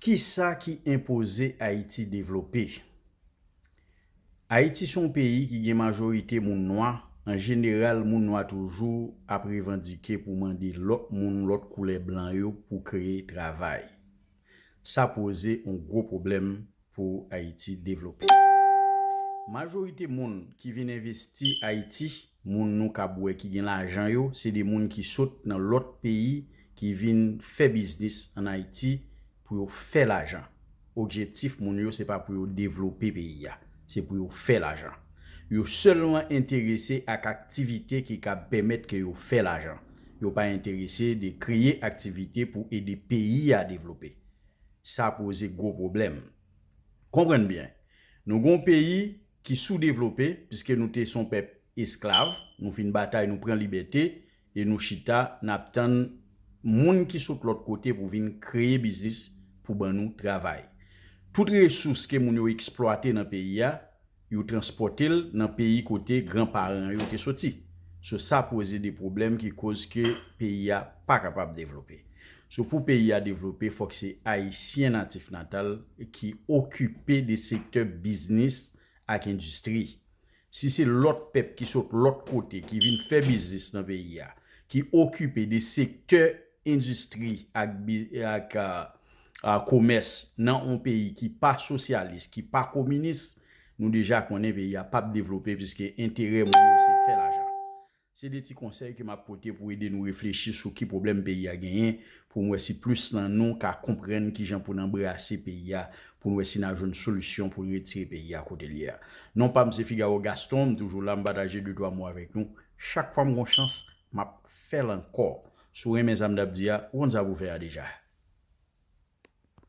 Kisa ki enpoze Ayiti devlope? Ayiti se yon peyi ki gen majorite moun nwa, an jeneral moun nwa toujou ap revandike pou mande lòt moun lòt koulè blan yo pou kreye travay. Sa poze yon gwo pwoblèm pou Ayiti devlope. Majorite moun ki vin envesti Ayiti, moun nou kab wè ki gen lajan yo, se de moun ki sot nan lòt peyi ki vin fè biznis an Ayiti pou yo fè lajan. Objektif moun yo se pa pou yo devlope peyi a, se pou yo fè lajan. Yo sèlman enterese ak aktivite ki kab pèmèt ke yo fè lajan. Yo pa enterese de kreye aktivite pou ede peyi a devlope. sa poze gwo pwoblèm. Konprann byen, nou gen yon peyi ki soudevlope, piske nou te se yon pèp esklav, nou fin batay, nou pran libète, e nou chita, n ap tann moun ki sot lòt kote pou vin kreye biznis pou ban nou travay. Tout resous ke moun yo eksplwate nan peyi a, Yo transpòte l nan peyi kote gran paran yo te soti. So sa poze de pwoblèm ki koz ke peyi a pa kapab devlope. So pou peyi a devlope fòk se Ayisyen natif natal ki okipe de sektè biznis ak endistri. Si se lòt pèp ki sot lòt kote ki vin fè biznis nan peyi a, ki okipe de sektè endistri ak komès nan on peyi ki pa sosyalis, ki pa kominis, nou deja konnen peyi a pap devlope piske enterè moun yo se fè lajan. Se 2 ti konsèy ke map pote pou ede nou reflechi sou ki pwoblèm peyi a genyen, pou nou wè si plis nan nou ka konprann kijan pou n anbrase peyi a, pou nou wè si na jwenn solisyon pou n retire peyi a kote l ye a. Non pa m se Figaro Gaston, m toujou la m pataje de twa mo avèk nou. Chak fwa m gon chans, map fè l ankò. Si w renmen sa m t ap di a, ou konn sa pou w fè a deja.